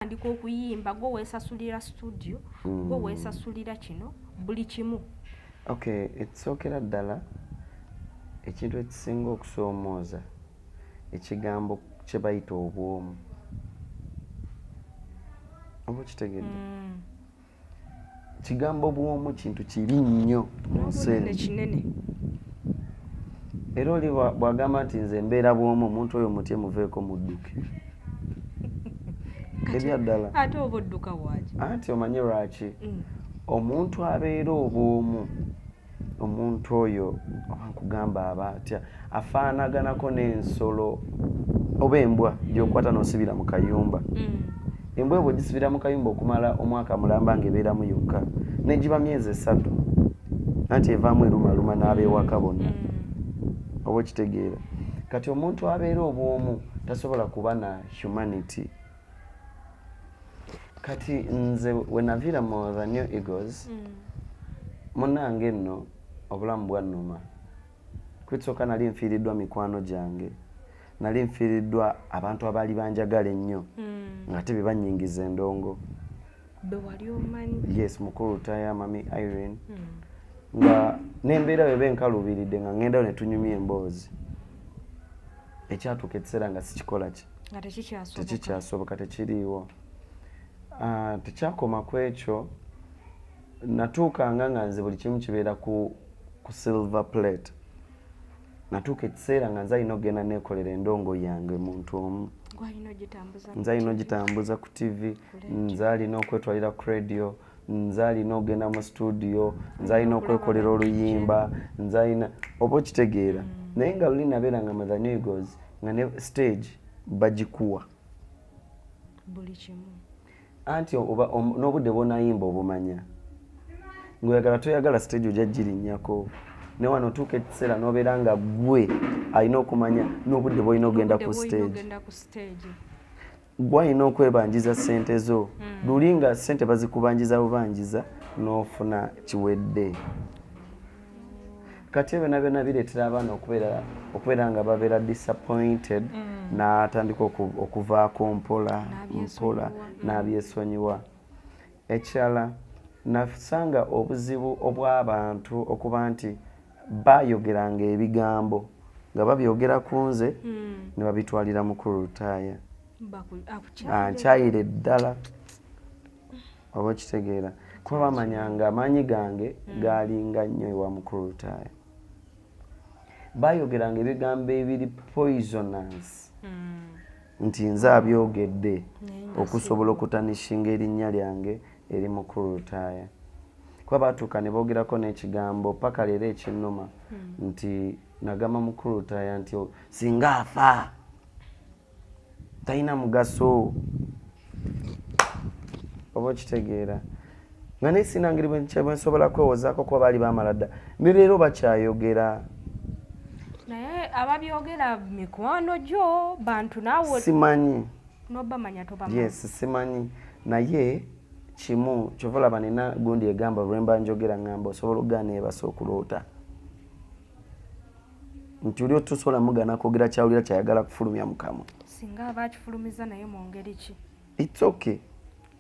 okutandika okuyimba gwe weesasulira studio mm. gwe weesasulira kino buli kimu okay ekisookera ddala ekintu ekisinga okusoomooza ekigambo kye bayita obwomu oba okitegedde mm. kigambo bwomu kintu kibi nnyo nsekinene era oli bwagamba nti nze mbeera bwomu omuntu oyo mutye muveeko mudduke ebyaddala ate oba odduka waki anti omanye lwaki mm. omuntu abeera obwomu omuntu oyo oba nkugamba aba atya afaanaganako n'ensolo oba embwa gyokwata nosibira mu kayumba mm. embwa ebwe gisibira mu kayumba okumala omwaka mulamba nga ebeeramu yokka negiba myezi esatu anti evaamu erumaluma n'abeewaka bonna mm. oba okitegeera kati omuntu abeera obwomu tasobola kuba na humanity kati nze wenaviira mu the new eagles mm. munange nno obulamu bwannuma kukisooka nali nfiiriddwa mikwano gyange nali nfiiriddwa abantu abaali banjagala ennyo mm. ng'ate bebanyingiza endongo be wali omanyi yes mukulu lutaya mami irene hmm. nga nembeera weba enkaluubiridde nga ngendayo netunyumya emboozi ekyatuuka ekiseera nga sikikola ki tekikyasoboka tekiriiwo ah, tekyakoma ku ekyo natuukanga nga nze buli kimu kibeera ku silver plate natuuka ekiseera nga nze alina okugenda nekolera endongo yange muntu omu nze alina ogitambuza ku tv nze alina okwetwalira ku radio nze alina okugenda mu situdiyo nze alina okwekolera oluyimba nze alina oba okitegeera mm. naye nga luli nabeera nga mathanigos nga ne stage bagikuwa buli kimu anti n'obudde bwonayimba obumanya ngaoyagala toyagala stage oja girinnyako ne wano otuuka ekiseera nobeera nga gwe alina okumanya n'obudde bwolina okugenda ku stage gwalina okwebanjiza sente zo hmm. luli nga sente bazikubanjiza bubanjiza n'ofuna kiwedde kati byona byona bireetera abaana okubeera okubeera nga babeera disappointed mm. n'atandika okuvaako mpola mpola n'abyesonyiwa ekirala nasanga obuzibu obw'abantu okuba nti bayogeranga ebigambo nga babyogera ku nze mm. ne babitwalira mukulu lutaaya ankyayire ah, ddala oba okitegeera kuba bamanya nga amaanyi gange hmm. gaalinga nnyo ewa mukulu lutaaya bayogeranga ebigambo ebiri poisonous hmm. nti nze abyogedde okusobola okutanishinga erinnya lyange eri mukulu lutaaya kuba batuuka ne boogerako n'ekigambo paka leero ekinnuma hmm. nti nagamba mukulu lutaaya nti singa afa talina mugaso oba okitegeera nga naye sina ngeri bwensobola kwewozaako kuba baali bamala dda ne leero bakyayogera naye ababyogera mikwano gyo bantu naawe simanyi nobamanya tobamanya yes simanyi naye kimu kyova olaba nina gundi egamba lwemba njogera ngamba osobola okugaana ebasa okuloota nti oli otusobola mugana kwogera kyawulira kyayagala kufulumya mukamwa singa aba akifulumiza naye mu ngeri ki its okay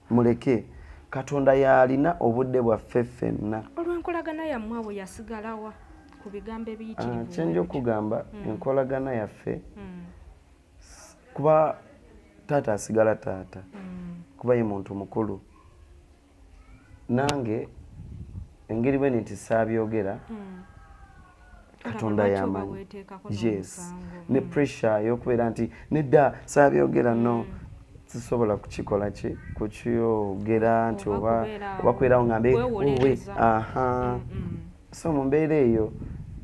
muleke katonda yalina obudde bwaffe ffenna olwenkolagana yammwe awo yasigalawa ku bigambo ebiyitirivu ah, kyenja okugamba hmm. enkolagana yaffe hmm. kuba taata asigala taata hmm. kuba ye muntu mukulu nange engeri bwe nti saabyogera hmm. katonda yamanyi yes ne hmm. pressure yokubeera nti nedda saabyogera no hmm. sisobola kukikola ki kukyogera nti oba oba kubeerawo ngambe owe aha so mu mbeera eyo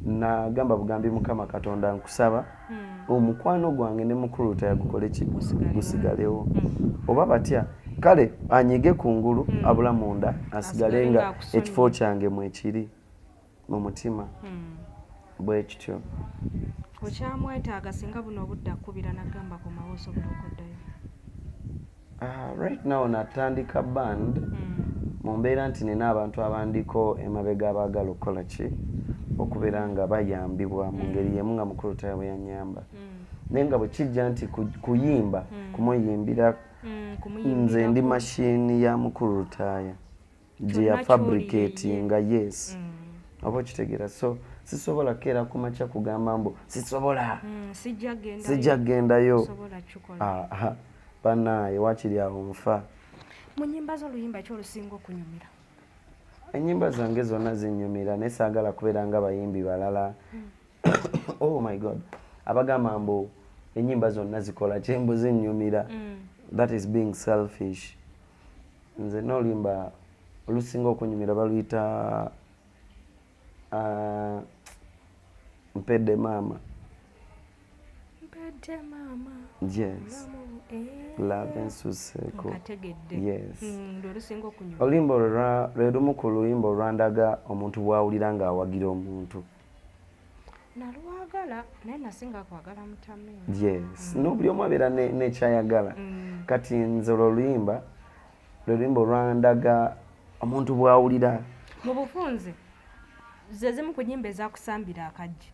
nagamba bugambi mukama katonda nkusaba hmm. omukwano gwange ne mukulu tayagukole ki gusigalewo hmm. oba batya kale anyige ku ngulu hmm. abula munda asigale nga ekifo kyange mwekiri mu mutima bwekityo okyamwetaaga singa buno obudde akubira nagamba komawo osobola okuddayo Uh, right now natandika band mm. mu mbeera nti nina abantu abandiko emabega abaagala okukola ki okubeera nga bayambibwa mu ngeri mm. yemu nga mukulu taya bwe yanyamba mm. naye nga bwe kijja nti kuyimba mm. kumuyimbira mm, nze ndi mashini ya mukulu lutaaya gye ya fabricatinga yes mm. oba okitegera so sisobola keera ku makya kugamba mbu sisobola mm, sijja kugendayo banaaye wakiri awo nfa mu nyimba zo oluyimba ki olusinga okunyumira enyimba zange zonna zinyumira naye saagala kubeera nga bayimbi balala mm. oh my god abagamba mbu enyimba zonna zikola kyembu zinyumira mm. that is being selfish nze nolimba olusinga okunyumira baluyita uh, mpedde maama mpedde maama yes eh. love ensuseeko yes hmm, oluyimba olwo lwerumu ku luyimba olwandaga omuntu bwawulira ng'awagira omuntu nalwagala naye nasinga kwagala mutamimu yes mm. nobuli omu abeera nekyayagala ne mm. kati nze olwo oluyimba lweluyimba olwandaga omuntu bwawulira mu bufunze zezimu ku nyimba ezakusambira akajja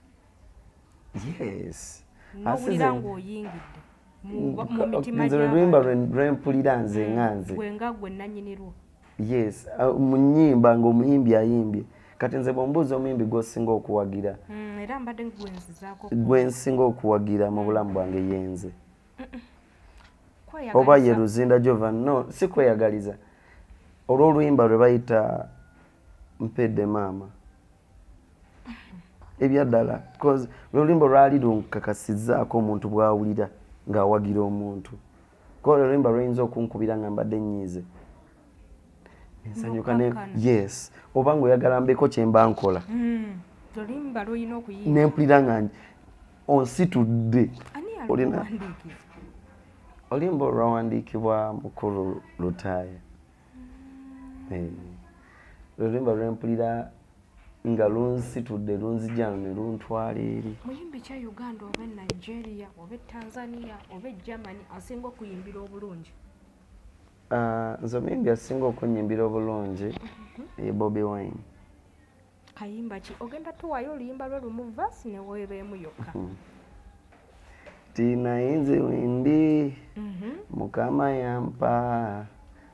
yes nowulira ngaoyingidde nze oluyimba lwempulira nze nga nze gwe nga gwe nanyinirwo yes uh, mu nnyimba ng'omuyimbi ayimbye kati nze bwombuuza omuyimbi gwosinga okuwagira mm, era mbadde gwenzizako gwensinga okuwagira mu bulamu bwange yenze oba ye luzinda jovan no si kweyagaliza olw'oluyimba lwe bayita mpedde maama ebyaddala bcause lwe oluyimba lwali lunkakasizaako omuntu bwawulira ng'awagira omuntu Kolo oluyimba lwoyinza okunkubira nga mbadde nnyiize nsanyuka ne yes oba ng'oyagala mbeeko kye mba nkola hmm, ne mpulira nga onsitudde olina oluyimba olwawandiikibwa mukulu lutaaya eh, lwelemba lwempulira nga lunsitudde lunzijano ne luntwala eri muyimbi kya uganda oba e nigeria oba e tanzania oba e germany asinga okuyimbira obulungi ah, nze omuyimbi asinga okunyimbira obulungi mhm. ye bobi wine kayimba ki ogenda tuwayo oluyimba lwe lumu vasi neweeba emu yokka hmm. tinayinze wendi mhm. mukama yampa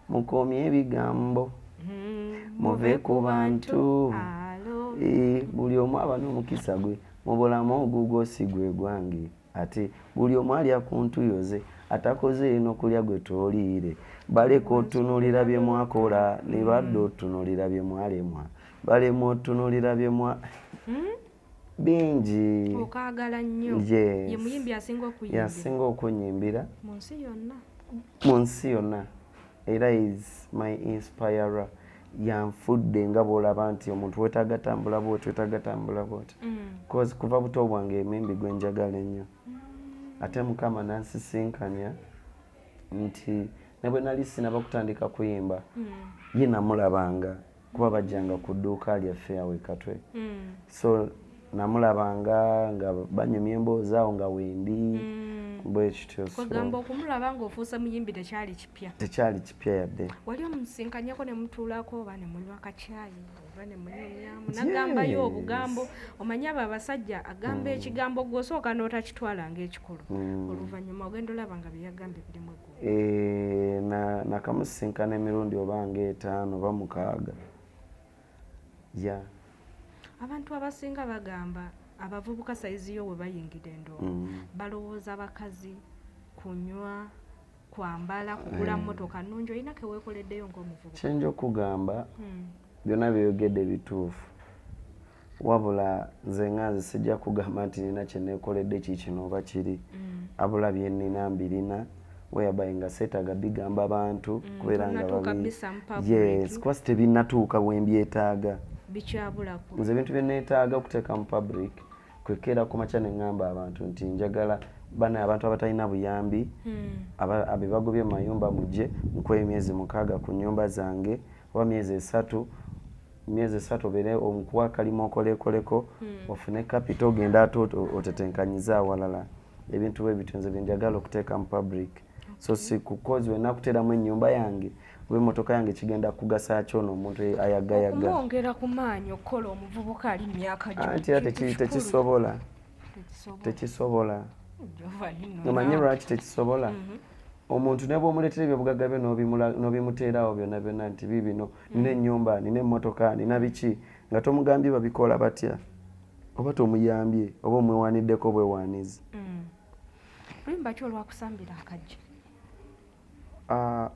mukomye ebigambo hmm. muve ku bantu buli omu aba n'omukisa gwe mu bulamu ogugwo si gwe gwange Ati buli omu alya ku ntuyo ze atakoze eno kulya gwe toliire baleka otunulira bye mwakola ne badda otunulira bye mwalemwa balemwa otunulira bye mwa hmm? bingi okaagala nnyo ye muyimbi asinga okuyimba yasinga okunyimbira mu nsi yonna mu nsi yonna era is my inspirer yanfudde nga bwolaba nti omuntu wetaaga tambula bwoti wetaaga tambula bwoti bcause mm. kuva buto bwange emimbi gwe njagala ennyo mm. ate mukama nansisinkanya nti ne bwe nali sinaba kutandika kuyimba mm. ye namulabanga kuba bajjanga ku dduuka lyaffe awo ekatwe mm. so namulabanga nga banyumya emboozi awo nga wendi mm. bwekityoogamba okumulaba nga ofuuse muyimbi tekyali kipya tekyali kipya yadde wali omusinkanyeko ne mutuulako oba ne munywa kacyayi oba ne munyumyamu nagambayo obugambo omanyi abo abasajja agamba mm. ekigambo gwosooka n'otakitwala ngaekikulu mm. oluvannyuma ogenda olaba nga byeyagambye birimu Eh, na nakamusisinkana emirundi oba nga etaano oba mukaaga ya abantu abasinga bagamba abavubuka sayizi yo webayingidde endongo mm. balowooza bakazi kunywa kwambala kugula eh. motoka nungi olina kewekoleddeyo ngaomuvubuka kyenja okugamba hmm. byonna byeyogedde bituufu wabula nze nga nze sijja kugamba nti nina kyenekoledde kikino oba kiri mm. abula byenina mbirina whereby nga seetaaga bigamba bantu mm, kubeera nga babi yes kuba sitebinnatuuka wembyetaaga bikyabulako nze ebintu bye neetaaga okuteeka mu public kwekeera ku makya ne ŋŋamba abantu nti njagala bana abantu abatalina buyambi hmm. be bagobye mu mayumba mujje nkuwa emyezi mukaaga ku nnyumba zange oba myezi esatu myezi esatu obeere omukuwa kalima okolekoleko hmm. ofune kapita ogenda ate otetenkanyize awalala ebintu bwe bityo nze byenjagala okuteeka mu public so sikukozi wena kuteeramu ennyumba yange oba emotoka yange kigenda kugasa kyono omuntu ayagayagaomwongera ku maanyi okukola omuvubuka ali mumyaka anti era tekisobola tekisobola omanye lwaki tekisobola mhm. omuntu nebwomuletera ebyobugaga bye nobimuteerawo byona byona nti bibino nina mm. ennyumba nina emmotoka nina biki nga tomugambye babikola batya oba tomuyambye oba omwewaniddeko obwewanizi mm. lulimba ki olwakusambira akajja ah,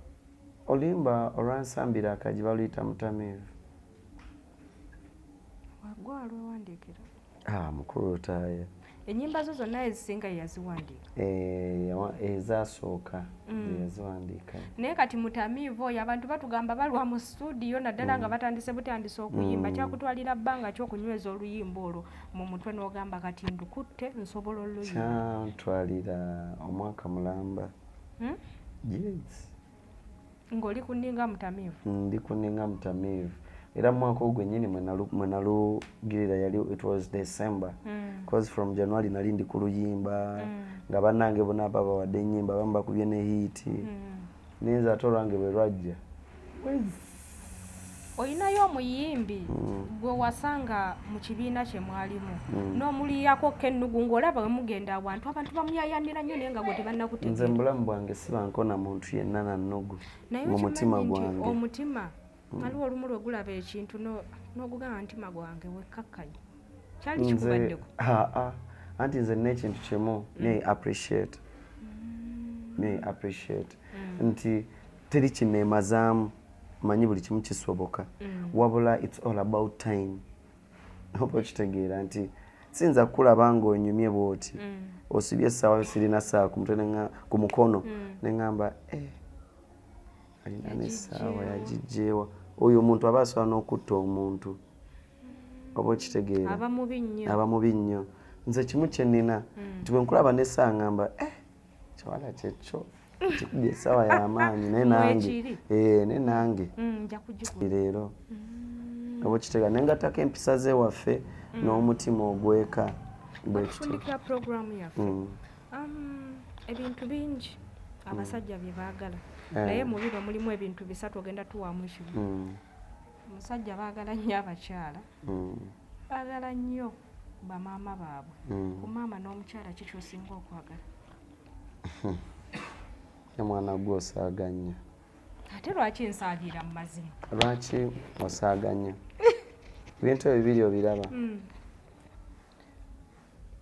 olimba olwansambira akajja baluyita mutamiivu wagwa lwewandiikira Ah, mukulu lutaaya enyimba zo zonna ezisinga yeyaziwandiika eh, ezasooka mm. yeyaziwandiika naye kati mutamiivu oyo abantu batugamba balwa mu studio naddala mm. nga batandise butandise okuyimba mm. kyakutwalira bbanga ki okunyweza oluyimba olwo mu mutwe n'ogamba kati ndukutte nsobola oluyimba kyantwalira omwaka mulamba hmm? yes ng'oli kuninga mutamiivu mm, ndi kuninga mutamiivu era mu mwaka ogwo gwennyini mwe nalugirira yali it was december mm. cause from january nali ndi ku luyimba mm. nga bannange bonaaba bawadde ennyimba abamu bakubye ne hiiti mm. ninza ate olwange bwe lwajja olinayo omuyimbi mm. gwe wasanga mu kibiina kye mwalimu mm. n'omuliyako ko ennugu ng'olaba we mugenda awantu abantu bamuyayanira nnyo naye nga gwe tebannakutegeera nze mu bulamu bwange sibankona muntu yenna na nnugu mu mutima gwange omutima mm. waliwo olumu lwe gulaba ekintu n'ogugamba mutima gwange wekkakkanye kyali kikubaddeko anti nze nina ekintu kimu ne appreciate ne appreciate nti teri kinemazaamu manyi buli kimu kisoboka mm. wabula its all about time oba okitegeera nti siyinza kukulaba nga onyumye bwoti mm. osibye essaawa yo sirina saa ku mutwe ku mukono mm. ne ŋamba eh, alina n'essaawa yagijjeewa oyo omuntu aba asobola n'okutta omuntu oba okitegeera aba mubi nnyo nze kimu kye nnina nti bwe nkulaba n'essaawa ŋamba eh, ekiwala kyekyo kikubye esawa yamaanyi naye nange eh, naye nange mm, leero mm. oba okitega naye ngattako empisa zewaffe mm. n'omutima ogweka bwekitufundikira puroguramu yaffe um, ebintu bingi abasajja bye baagala eh. naye mu bino mulimu ebintu bisatu ogenda tuwamu kimu omusajja baagala nnyo abakyala Baagala nnyo bamaama baabwe. Hmm. Ku maama n'omukyala ki ky'osinga okwagala? Ye mwana gwe osaaga nnyo. Ate lwaki nsaagira mu mazima? Lwaki osaaga nnyo? Ebintu ebyo biri obiraba. Hmm.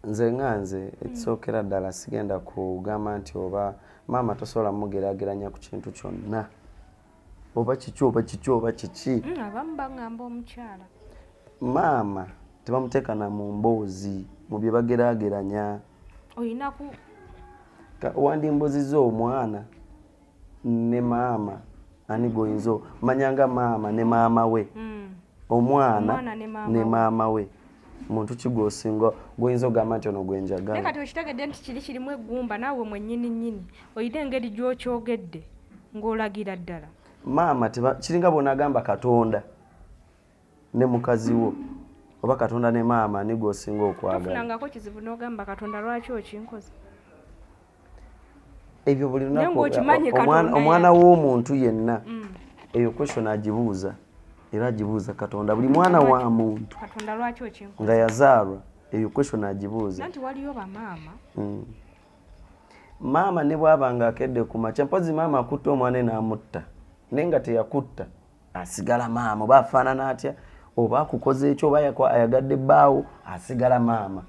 Nze nga nze ekisookera hmm. ddala sigenda kugamba nti oba maama tosobola mugeraageranya ku kintu kyonna. oba kiki oba kiki oba kiki mm, abamu bagamba omukyala maama tebamuteekana mu mboozi mu bye bageraageranya olinaku wandimbuziza omwana ne maama ani goyinza manya nga maama ne maama we mm. omwana ne maama we muntu ki gwosinga gwoyinza ogamba nti ono gwenjagala naye kati okitegedde nti kiri kirimu eggumba naawe mwenyini nyini oyina engeri gyokyogedde ng'olagira ddala maama kiringa bwonagamba katonda ne mukazi wo oba katonda ne maama ni gwosinga okwagala kizibu nogamba katonda lwaki okinkoze ebyo buli lunakuomwana w'omuntu yenna mm. eyo question agibuuza era agibuuza katonda buli mwana wa muntu nga yazaalwa eyo question agibuuza mm. maama ne bwaba nga akedde ku makya mpozi maama akutta omwana enamutta naye nga teyakutta asigala maama oba afaanana atya oba akukoze ekyo oba ayagadde bbaawo asigala maama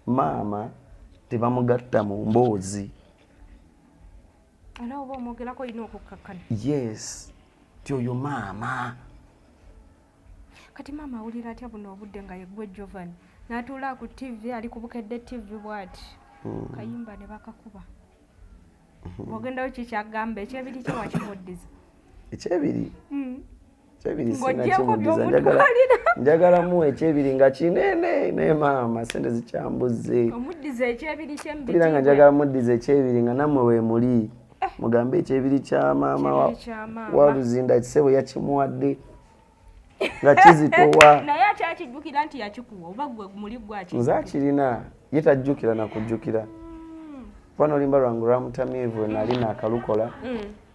maama tebamugatta mu mboozi era oba omwogerako olina okukkakkana yes ti oyo maama kati maama awulira atya buno obudde nga yeggwe jovan n'atuula ku tivi ali ku bukedde tivi bwati hmm. kayimba ne bakakuba hmm. ogendayo kikyagamba ekyebiri kye wakimuddiza ekyebiri hmm. njagala mu ekyebiri nga kinene naye maama sente zikyambuze ira nga njagala muddiza ekyebiri nga nammwe wemuli eh. mugambe ekyebiri kya maama waluzinda kisebo yakimuwadde nga kizitowa naye akyakijjukira nti yakikuwa oba gwe muli gwaki nze akirina ye tajjukira nakujjukira hmm. kuba nolimba lwange lwamutamiivu nali nakalukola hmm.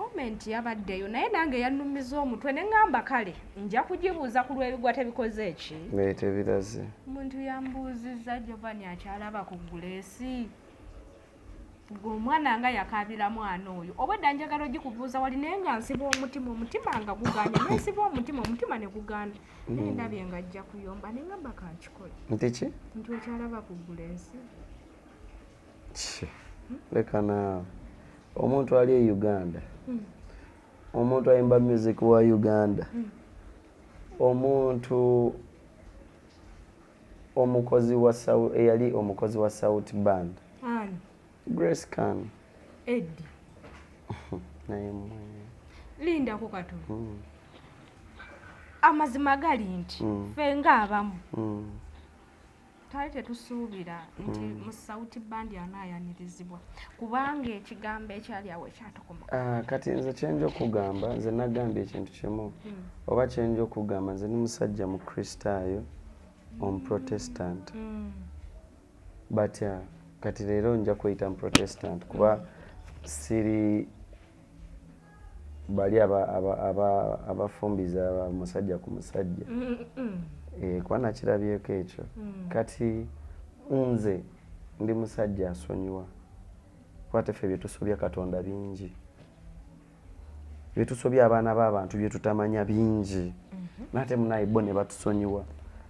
komenti yabaddeyo naye nange yanumiza omutwe ne ŋŋamba kale nja kugibuuza ku lw'ebigwa tebikoze eki naye tebiraze omuntu yambuuzizza jovani akyalaba ku gulesi gwe omwana nga yakaabira mwana oyo obwedda njagala ogikubuuza wali naye nga nsiba omutima omutima nga guganye nensiba omutima omutima ne guganda naye mm. ndabye nga ajja kuyomba ne ŋŋamba kankikole nti ki nti okyalaba ku gulesi leka naawe omuntu ali e uganda hmm. omuntu ayimba music wa uganda hmm. omuntu omukozi wa eyali omukozi wa south band grace can eddi naye lindako kato hmm. amazima gali nti ffe ngaabamu twali tetusuubira nti mm. mu sauti bandi anaayanirizibwa kubanga ekigambo ekyali awo ekyatukuma ah, kati nze kyenja okugamba nze nagambye ekintu kimu mm. oba kyenja okugamba nze ni musajja mu kristaayo on mm. protestant batya ah, kati leero nja kweyita mu protestant kuba siri bali abafumbiza aba, aba musajja ku musajja mm, mm. e, kuba nakirabyeko ekyo mm. kati nze ndi musajja asonyiwa kuba tefe byetusobya katonda bingi byetusobya abaana b'abantu byetutamanya bingi mm -hmm. nate munaye bo ne batusonyiwa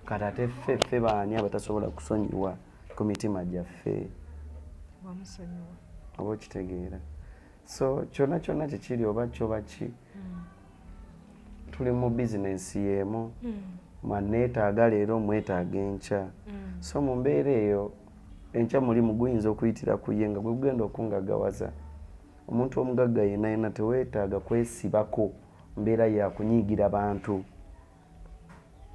kati ate ffe ffe baani abatasobola kusonyiwa ku mitima gyaffe oba okitegeera so kyona kyona kikiri oba kyoba ki hmm. tuli mu bizinensi yeemu hmm. mwaneetaaga leero mwetaaga enkya hmm. so mu mbeera eyo enkya mulimu guyinza okuyitira ku ye nga gwegugenda okungagawaza omuntu omugagga yenayena teweetaaga kwesibako mbeera yakunyiigira bantu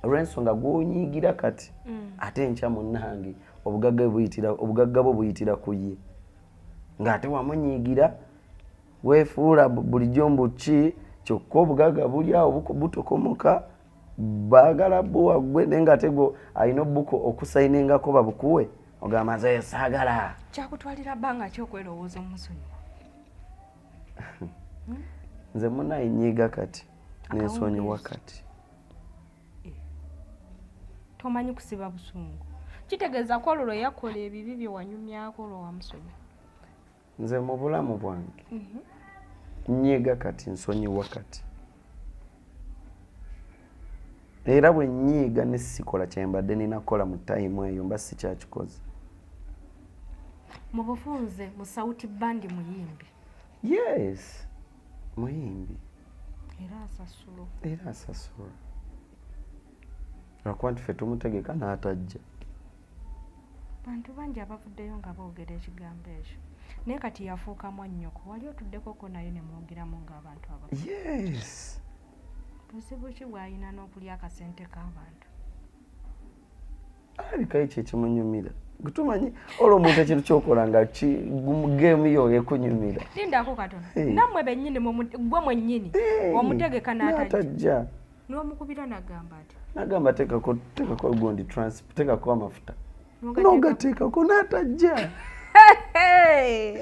olwensonga gwonyiigira kati mm. ate enkya munnange obugagga bwo buyitira ku ye ng'ate wamunyiigira weefuula bulijjo mbu ki kyokka obugagga buli awo butokomoka baagala buwaggwe naye ng'ate gwo alina obuko okusayiningako babukuwe ogamba nze saagala kyakutwalira bbanga ki okwerowooza omusonyiwa nze munaye nyiiga kati nensonyiwa kati eh, tomanyi kusiba busungu kitegeeza ko olwo lwe yakola ebibi bye wanyumyako olwo wamusonyi nze mu bulamu bwange mhm. nyiga kati nsonyiwa kati era bwe nyiiga ne sikola kyembadde nina kukola mu tayimu eyo mba sikyakikoze mu bufunze mu sauti bandi muyimbi yes muyimbi era asasula era asasula lwakuba nti fe tumutegeka n'atajja bantu bangi abavuddeyo nga boogera ekigambo ekyo naye kati yafuuka mwannyoko wali otuddeko ko naye ne mwogeramu ng'abantu aba yes buzibu ki bw'alina n'okulya akasente k'abantu alabika ekyo ekimunyumira gutumanyi olwo omuntu ekintu kyokola nga geemu yo ekunyumira lindako katono nammwe bennyini gwe mwennyini omutegeka natajja nomukubira nagamba ti nagamba tekako tekako gundi transp tekako amafuta nogateekako natajja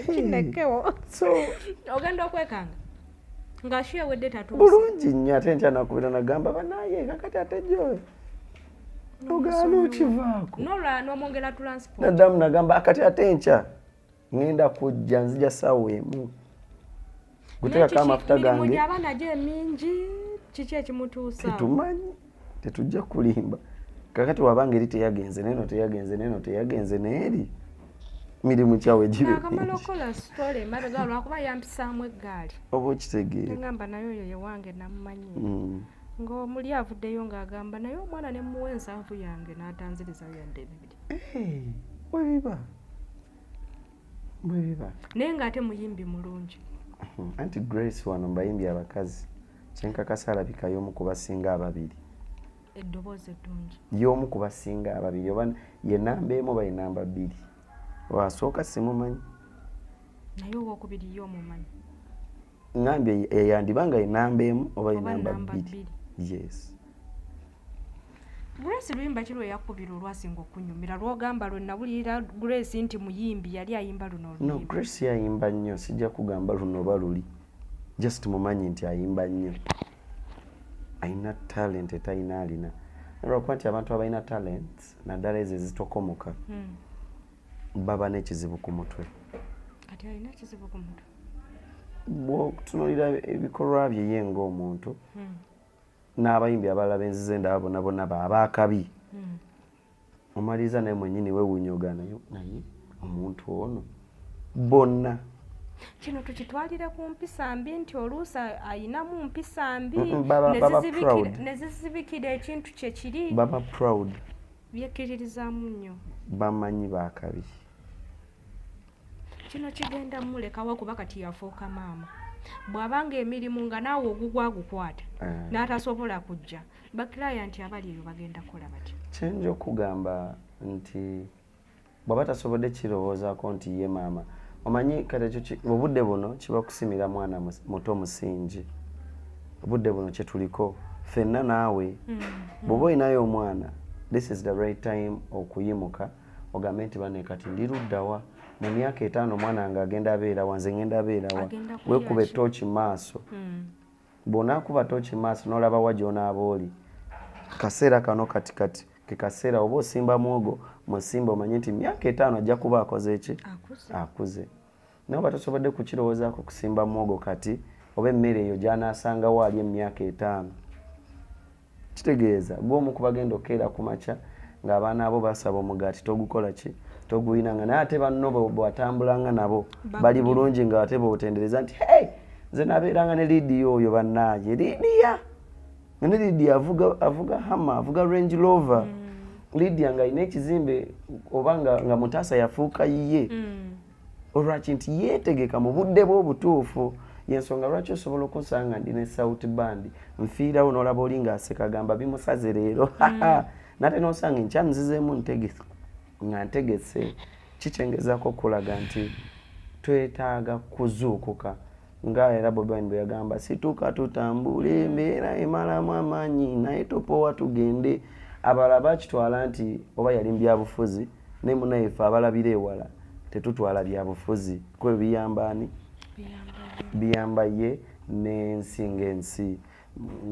kinekewo so ogenda okwekanga nga shiewedde tatu bulungi nnyo ate ntya nakubira nagamba banaye kakati ate joyo ogaana okivaako nolwala nomwongera transport naddamu nagamba akati ate enkya ŋenda kujja nzija saawa emu guteekako amafuta gange abaana gyo emingi kiki ekimutuusa tetumanyi tetujja kulimba kakati waba ngeri teyagenze neno teyagenze neno teyagenze neeri mirimu kyawe gibeakamala okukola sitole emabega lwakuba yampisaamu eggaali oba okitegeera ngamba naye oyo yewange namumanyi mm. ng'omuli avuddeyo ng'agamba naye omwana ne muwa ensanvu yange n'atanzirizayo yadde ebibiri bwe biba bwe biba naye ng'ate muyimbi mulungi hmm, anti grace wano mbayimbi abakazi kyenkakasa alabika y'omu ku basinga ababiri eddoboozi eddungi y'omu ku basinga ababiri oba ye namba emu oba ye namba bbiri wasooka simumanyi naye owokubiri ye omumanyi ngambye yandiba nga enamba emu oba enamba bbiri yes grace luyimba ki lwe yakubira olwasinga okunyumira lwogamba lwe nawulira grace nti muyimbi yali ayimba luno no grace yayimba nnyo sijja kugamba luno oba luli just mumanyi nti ayimba nnyo alina talent etalina alina nalwakuba nti abantu abalina talent naddala ezo ezitokomoka hmm. baba n'ekizibu ku mutwe kati alina ekizibu ku mutwe bwokutunulira ebikolwa bye ye ngaomuntu hmm. n'abayimbi abalala benziza endaba bona bona ba abaakabi hmm. omaliriza naye mwenyini wewunyoga naye naye omuntu ono bonna kino tukitwalire ku mpisa mbi nti oluusi ayinamu mpisa mbi nezizibikira ekintu kyekiri baba proud byekkiririzaamu nnyo bamanyi bakabi kino kigenda mulekawo kuba kati yafuuka maama bw'aba nga emirimu nga naawe ogugwa agukwata eh. n'atasobola kujja bakilaya nti abali eyo bagenda kukola batya kyenja okugamba nti bw'aba tasobodde kirowoozaako nti ye maama omanyi kati ekyo obudde buno kiba kusimira mwana muto musingi obudde buno kyetuliko fenna naawe mm, mm. bw'oba olinayo omwana this is the right time okuyimuka ogambe nti bane kati ndi luddawa mu myaka etaano omwana wange agenda abeerawa nze ngenda abeerawa wekuba etooki maaso hmm. bwonaakuba tooki maaso n'olaba wa gy'onaaba oli kaseera kano kati kati ke kaseera oba osimba mwogo musimba omanye nti myaka etaano ajja kuba akoze eki akuze Nawe oba tosobodde kukirowozaako kusimba muwogo kati oba emmere eyo gy'anaasangawo alya emyaka etaano? Kitegeeza gwe omu ku bagenda okukeera ku makya ng'abaana bo basaba omugaati togukola ki? Togulina nga naye ate banno bw'atambulanga nabo bali bulungi nga ate b'otendereza nti hey! Nze nabeeranga ne Lidiya oyo bannaaye Lidiya! Nga ne Lidiya avuga, avuga Hammer, avuga Range Rover. Mm. Lidiya ng'alina ekizimbe oba nga, nga Mutaasa yafuuka yiye. Mm. olwaki nti yeetegeka mu budde bwe obutuufu yensonga lwaki osobola okunsanga ndi ne south band nfiirawo nolaba oli ngaaseka gamba bimusaze leero mm. nate nosanga enkyamzizeemu ntegese nga ntegese kikyengezako okulaga nti twetaaga kuzuukuka nga era Bobi Wine bwe yagamba situka tutambule embeera emalamu amaanyi naye topowa tugende abalala bakitwala nti oba yali mu byabufuzi naye munayefe abalabira ewala tetutwala byabufuzi kuba biyamba ani biyamba ye n'ensi ng'ensi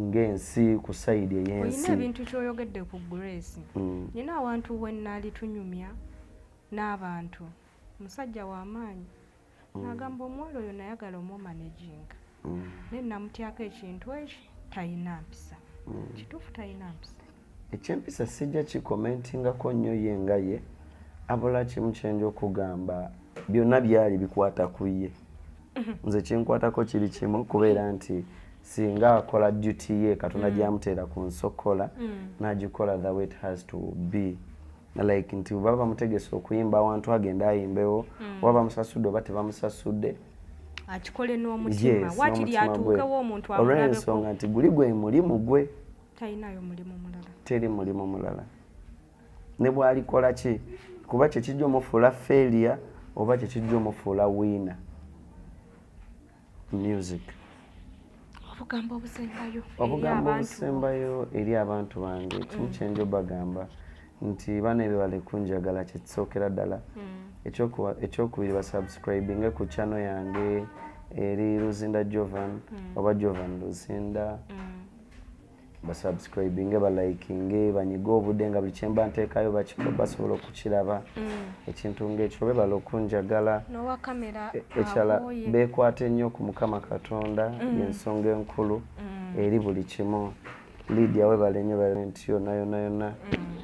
ng'ensi ku sayidi ey'ensi olina ebintu kyoyogedde ku grace mm. nina awantu wennaali tunyumya n'abantu musajja w'amaanyi mm. nagamba omuwala oyo nayagala omumanaginga mm. naye namutyako ekintu ekyo talina mpisa mm. kituufu talina mpisa ekyempisa sijja kikomentingako nnyo ye nga ye abula kimu kyenja okugamba byonna byali bikwata ku ye nze kinkwatako kiri kimu kubeera nti singa akola duty ye katonda gyamuteera ku nsokola nagikola the way it has to be like nti baba bamutegese okuyimba awantu agenda ayimbewo mm. oba bamusasudde oba tebamusasudde akikole n'omutima wakiri atuukewo omuntu olwensonga nti guli gwe mulimu gwe talinayo mulimu mulala teri mulimu mulala ne bwalikola ki kuba kyekijja omufuula feria oba kyekijja omufuula wiina music obugambo obusembayo obugambo obusembayo eri abantu bange mm. kimu kyenjo bagamba nti bana ebyo bali kunjagala kyekisookera ddala mm. ekyokubiri basubscribinge ku chano yange eri luzinda jovan mm. oba jovan luzinda basubscribinge balikinge banyige obude nga buli kyemba ntekayo basobola okukiraba mm. ekintu ngaekyo bebala okunjagala e, ekyala bekwata ennyo ku mukama katonda mm. yensonga enkulu mm. eri buli kimu lidia webale nnyo nti yona yona yona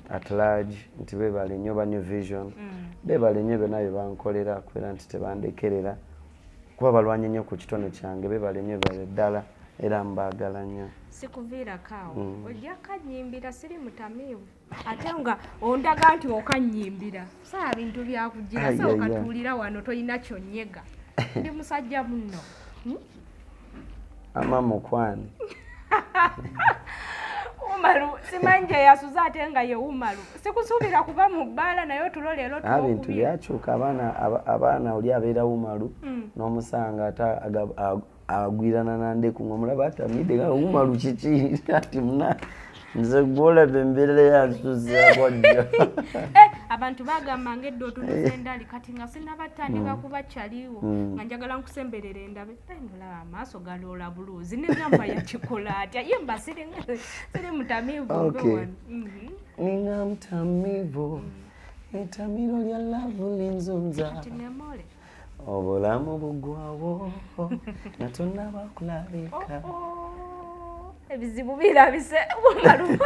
at large nti bebale nnyo ba new vision bebale nnyo byona byebankolera kubera nti tebandekerera kuba balwanye nnyo ku kitone kyange bebale nnyo bebale ddala era mbaagala nnyo sikuviirako awo mm. ojja kanyimbira siri mutamiivu ate nga ondaga nti okanyimbira saa bintu byakugira sa okatuulira wano tolina kyonyega ndi musajja muno hmm? ama mukwano umalu simanyi gyeyasuza ate nga ye umalu sikusuubira kuba mu bbaala naye otulo leero ah, bintu byakyuka abaana abaana oli abeera umalu hmm. n'omusanga ate agwirana nandeku nga mulaba atamidde nga umalu kiki ati muna nze gwolaba embeera yansuzakwajja eh, abantu bagamba nga edda otunuza endali kati nga sinabatandika hmm. kuba kyaliwo hmm. nga njagala nkusemberera endabe olaba amaaso galoola buluuzi negamba yakikola atya ye mba siri mutamiivu mhm. ninga mutamiivu etamiro lya laavu linzunza obulamu bugwawo nga tonaba kulabika oh, oh. ebizibu birabise bumaluma